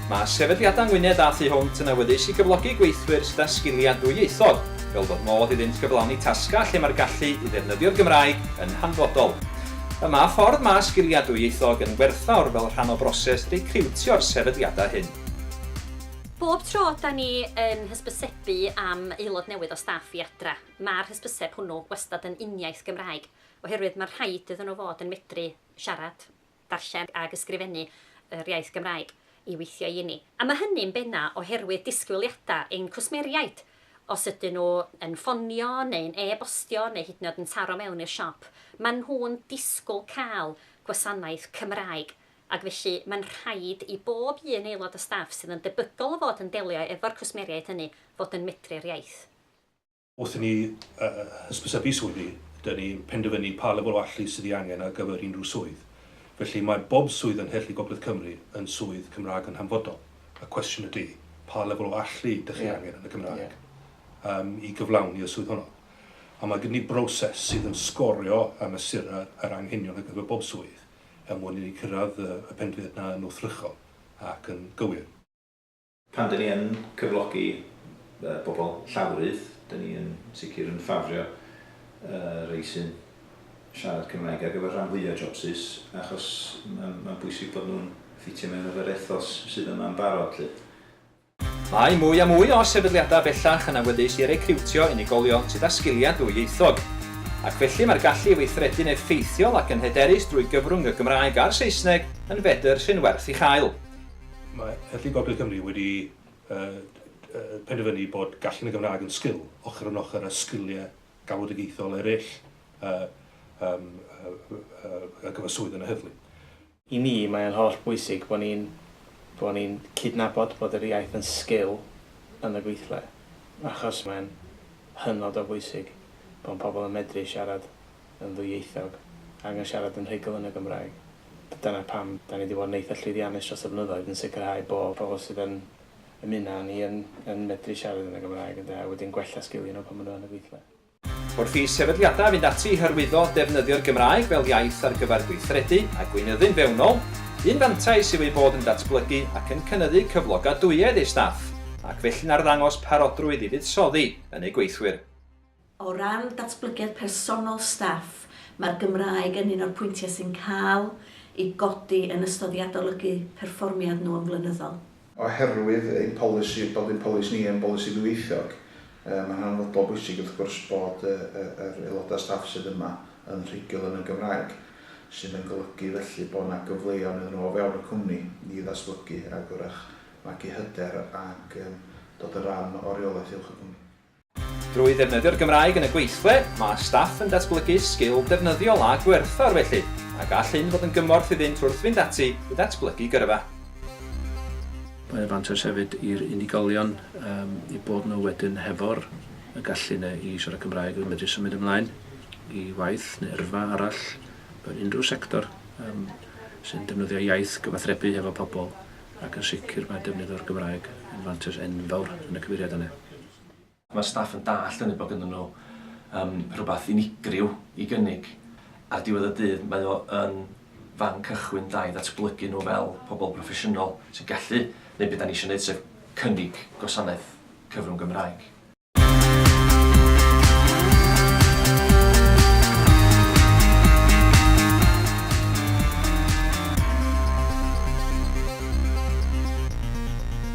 Mae Sefydliadau Ngwynedd a Thu Hwnt yn awyddus i gyflogi gweithwyr sydd â sgiliau dwyieithog, fel bod modd iddynt gyflawni tasgau lle mae'r gallu i ddefnyddio'r Gymraeg yn hanfodol. Y mae ffordd mae sgiliau dwyieithog yn werthfawr fel rhan o broses recriwtio'r sefydliadau hyn. Bob tro 'da ni yn hysbysebu am aelod newydd o staff i adra, Mae'r hysbyseb hwnnw wastad yn uniaith Gymraeg, oherwydd mae'n rhaid iddyn nhw fod yn medru siarad, darllen ac ysgrifennu yr iaith Gymraeg i weithio i ni. A mae hynny'n benna' oherwydd disgwyliadau ein cwsmeriaid, os ydyn nhw yn ffonio neu'n e-bostio neu hyd yn oed yn taro mewn i'r siop, maen nhw'n disgwyl cael gwasanaeth Cymraeg, ac felly mae'n rhaid i bob un aelod o staff sydd yn debygol o fod yn delio efo'r cwsmeriaid hynny fod yn medru'r iaith. Wrth i ni hysbysebu swyddi, dyn ni'n penderfynu pa lefel o allu sydd ei angen ar gyfer unrhyw swydd. Felly, mae bob swydd yng Ngheirlli Gogledd Cymru yn swydd Cymraeg yn hanfodol. Y cwestiwn ydy, pa lefel o allu dych chi angen yn y Gymraeg i gyflawni y swydd honno? A mae gyda ni broses sydd yn sgorio a mesuru yr anghenion ar gyfer bob swydd er mwyn i ni cyrraedd y penderfyniad yna yn wrthrychol ac yn gywir. Pan dan ni yn cyflogi pobl llawrydd, dan ni yn sicr yn ffafrio rhai sy'n siarad Cymraeg ar gyfer rhan fwyaf jobsus, achos mae'n bwysig bod nhw'n ffitio mewn efo'r ethos sydd yma yn barod 'lly. Mae mwy a mwy o sefydliadau bellach yn awyddus i recriwtio unigolion sydd â sgiliau ddwyieithog, ac felly mae'r gallu i weithredu'n effeithiol ac yn hyderus drwy gyfrwng y Gymraeg a'r Saesneg yn fedr sy'n werth ei chael. Mae Heddlu Gogledd Cymru wedi penderfynu bod gallu yn y Gymraeg yn sgil, ochr yn ochr â sgiliau galwedigaethol eraill ar gyfer swydd yn y heddlu. I mi, mae o'n holl bwysig bod ni'n bod ni'n cydnabod bod yr iaith yn sgil yn y gweithle, achos mae'n hynod o bwysig bod pobl yn medru siarad. yn ddwyieithog ac yn siarad yn rhugl yn y Gymraeg. Dyna pam 'da ni 'di bod yn eitha' llwyddiannus dros y blynyddoedd yn sicrhau bo' pobl sydd yn ymuno â ni yn yn medru siarad yn y Gymraeg ynde, a wedyn gwella sgilia' nhw pan ma' nhw yn y gweithle. Wrth i sefydliadau fynd ati i hyrwyddo defnyddio'r Gymraeg fel iaith ar gyfer gweithredu a gweinyddu'n fewnol, un fantais yw ei bod yn datblygu ac yn cynyddu cyflogadwyedd ei staff, ac felly'n arddangos parodrwydd i fuddsoddi yn eu gweithwyr. O ran datblygiad personol staff, mae'r Gymraeg yn un o'r pwyntiau sy'n cael ei godi yn ystod i adolygu perfformiad nhw yn flynyddol. Oherwydd ein polisi, bod ein polisi ni yn bolisi ddwyieithog, mae'n hanfodol bwysig wrth gwrs bod yr aelodau staff sydd yma yn rhugl yn y Gymraeg, sydd yn golygu felly bod yna gyfleon iddyn nhw o fewn y cwmni i ddatblygu ac wrach magu hyder ac dod yn rhan o reolaeth uwch y cwmni. Drwy ddefnyddio'r Gymraeg yn y gweithle, mae staff yn datblygu sgil defnyddiol a gwerthfawr felly, a gall hyn fod yn gymorth iddynt wrth fynd ati i ddatblygu gyrfa. Mae o'n fantais hefyd i'r unigolion eu bod nhw wedyn hefo'r y gallu yna i siarad Cymraeg a medru symud ymlaen i waith neu yrfa arall mewn unrhyw sector sy'n defnyddio iaith, gyfathrebu hefo pobl ac yn sicr mae defnydd o'r Gymraeg yn fantais enfawr yn y cyfeiriad yna. Mae'r staff yn dallt hynny bod gynddyn nhw yym rhywbeth unigryw i gynnig. Ar diwedd y dydd mae o yn fan cychwyn da i ddatblygu nhw fel pobl proffesiynol sy'n gallu neud be dan ni isio neud sef cynnig gwasanaeth cyfrwng Gymraeg.